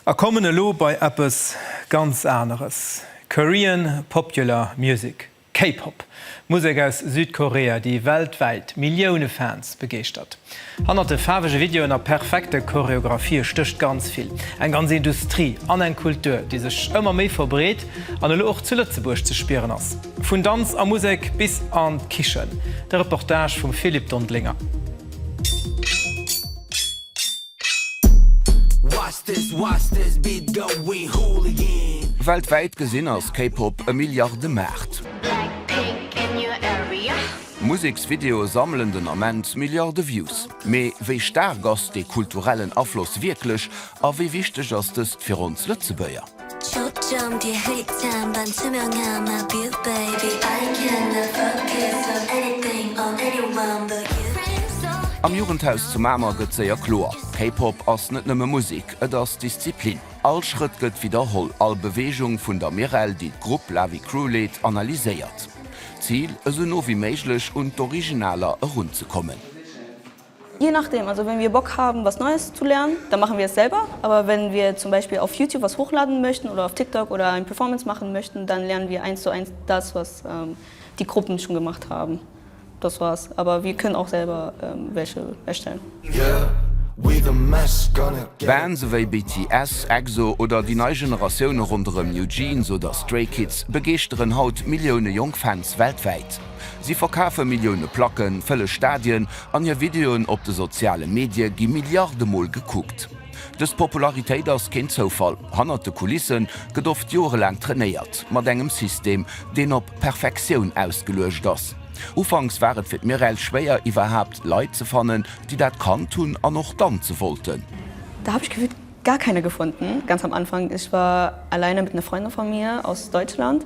A kommen elo bei eppes ganz aneres, Korean Popular Music, K-Pop, Musek aus Südkorea, déi weltwäit Millioune Fans begeeschtert. Hannert de faarwege Videoen a perfekte Choreographie stécht ganz vill, eng ganz Industrie an eng Kultur, déi sech ëmmer méi verbreet an elo och zu Lëtzebuerg ze spieren ass. Vun Danz a Musek bis an d'Kichen, de Reportage vum Philippe Dondlinger. Weltwäit gesinn ass K-Pop e Milliardemaart. Museksvideoe sammelen den Ament Milliarde Views. Mee wéi staark ass dee kulturellen Afloss wierklech a wéi wichteg ass dëst fir ons Lëtzebuerger? Am Jugendhaus zu Mamer gëtt séier kloer, K-Pop ass net nëmme Musek, et ass Disziplin. All Schrëtt gëtt widderholl, all Beweegung vun der Mirelle, déi d'Grupp Lavi Crew leet, analyséiert. Zil, esou no wéi méiglech un d'Originaler erunzekommen. Je nachdem, also wenn wir Bock haben was Neues zu lernen, dann machen wir es selber, aber wenn wir zum Beispiel auf Youtube was hochladen möchten oder auf TikTok oder ein Performance machen möchten, dann lernen wir eins zu eins das was die Gruppen schon gemacht haben, das war's, aber wir können auch selber welche erstellen. Bands ewéi BTS, EXO oder déi nei Generatioune ronderëm NewJeans oder Stray Kids begeeschteren haut Millioune jonk Fans weltwäit. Si verkafe Millioune Placken, fëlle Stadien an hir Videoen op de soziale Medie gi Milliarde Mol gekuckt. Dës Popularitéit ass keen Zoufall. Hannert de Kulisse gëtt oft jorelaang trainéiert, mat engem System, deen op Perfektioun ausgeluecht ass. Ufanks war et fir d'Mireille schwéier, iwwerhaapt Leit ze fannen, déi dat kannt hunn an och danze wollten. Da hab ich gefühlt gar keine gefunden, ganz am Anfang. Ich war alleine mit einer Freundin von mir aus Deutschland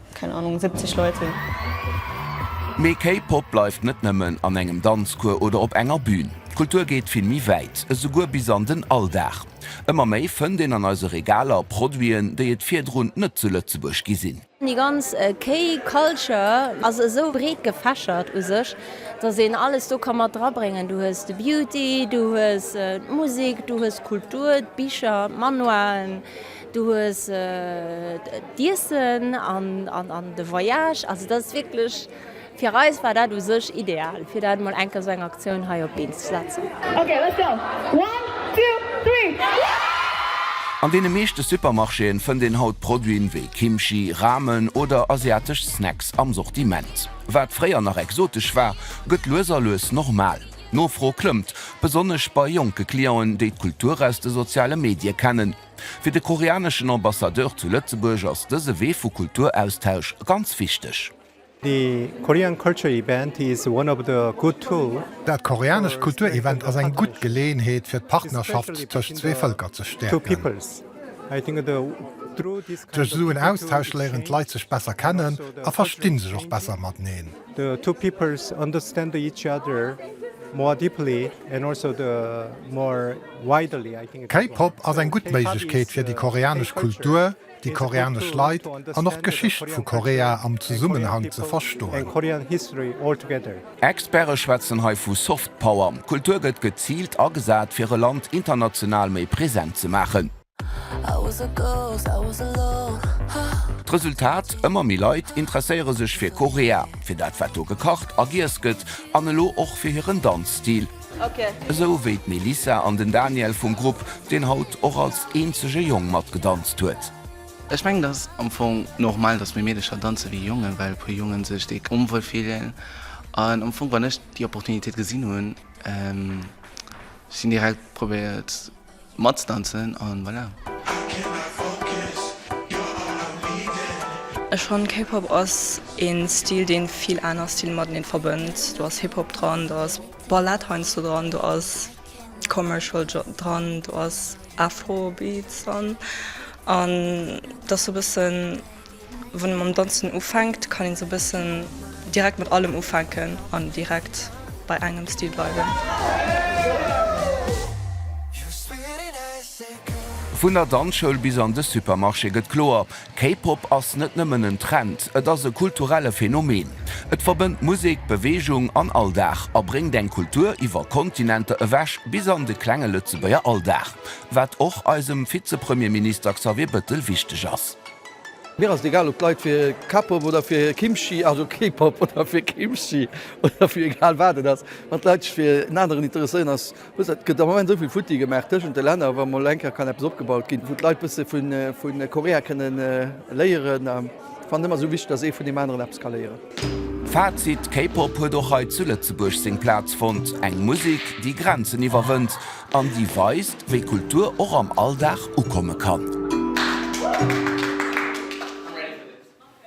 Keng Anung, 70 Leit sinn. Mee K-Pop bleift net nëmmen an engem Danzcours oder op enger Bün. D'Kultur geet vill méi wäit, esouguer bis an den Alldag. Ëmmer méi fënnt een an eise Regaler Produiten, déi et virdrun net zu Lëtzebuerg gi sinn. Déi ganz K-Culture ass esou breet gefächert u sech, datt een alles do ka mat dra bréngen. Du hues de Beauty, du hues d'Musek, du hues d'Kultur, d'Bicher, d'Manualen. Du hues d'Iessen an de Voyage, also dat ass wierklech, fir eis war dat u sech ideal, fir dat mol eng Kéier esou eng Aktioun hei op d'Been ze setzen. An deene meeschte Supermarchéen fënnt een haut Produiten wéi Kimchi, Ramen oder asiatesch Snacks am Sortiment. Wat fréier nach exotesch war, gëtt lues a lues normal. D'Nofro klëmmt, besonnesch bei jonke Clienten, déi d'Kultur aus de soziale Medie kennen. Fir de koreaneschen Ambassadeur zu Lëtzebuerg ass dëse Wee vu Kulturaustausch ganz wichteg. The Korean Culture Event is one of the good tool. Dat koreanescht Kulturevent ass eng gutt Geleeënheet fir d'Partnerschaft tëscht zwee Vëlker ze stäerken. Duerch esou en Austausch léieren d'Leit sech besser kennen a versti sech och besser mateneen. The two peoples understand each other more deeply and also the more. K-Pop ass eng gutt Méiglechkeet fir déi koreanesch Kultur, déi koreanesch Leit an och d'Geschicht vu Korea am Zesummenhang ze verstoen. Experte schwätzen hei vu Soft Power. Kultur gëtt geziilt agesat, fir e Land international méi present ze maachen. D'Resultat, Ëmmer méi Leit interesséiere sech fir Korea, fir dat wat do gekacht a giess gëtt an elo och fir hiren Danzstil. Esou wéi d'Melissa an den Daniel vum Grupp, deen haut och als eenzege Jong mat gedanzt huet. Ech mengen et ass am Fong normal dass méi Meedecher danze wéi Jongen, well e puer Jongen sech déi onwuel fillen an am Fong wann ech déi Opportunitéit gesinn hunn, hunn ech déi direkt probéiert. Matzdanzen an voilà. Ech fannen K Pop ass een Stil deen vill aaner Stilen mateneen verbënnt. Do ass Hip Hop dran, do ass Ballett heiansdo dran, do ass Commercial dran, do ass Afro Beats dran an et ass sou bëssen Wann ee mam Danzen ufänkt, kann een sou bëssen direkt mat allem ufänken an direkt bei engem Stil bleiwen. Vun der Danzschoul bis an de Supermarché gëtt kloer, K-Pop ass net nëmmen en Trend, et ass e kulturelle Phänomen. Et verbënnt Musek, Beweegung an Alldag a bréngt eng Kultur iwwer Kontinenter ewech bis an de klenge Lëtzebuerger Alldag, wat och eisem Vize-Premierminister Xavier Bëttel wichteg ass. Mir ass et egal ob d'Leit fir K-Pop oder fir Kimchi, also K-Pop oder fir Kimchi oder fir egal wat et ass, wann d'Leit sech fir en aneren interesséieren ass wou se. Et gëtt am Moment esou vill futti gemaach tëschent de Länner, wa mol eng Kéier kann eppes opgebaut ginn, wou d'Leit bësse vu Korea kënnen léieren, fannen ëmmer esou wichteg, datt ee vun deem aneren eppes ka léieren. Fazit, K-Pop huet och hei zu Lëtzebuerg seng Plaz fonnt, eng Musek, déi Grenzen iwwerwënnt an déi weist, wéi Kultur och am Alldag ukomme kann.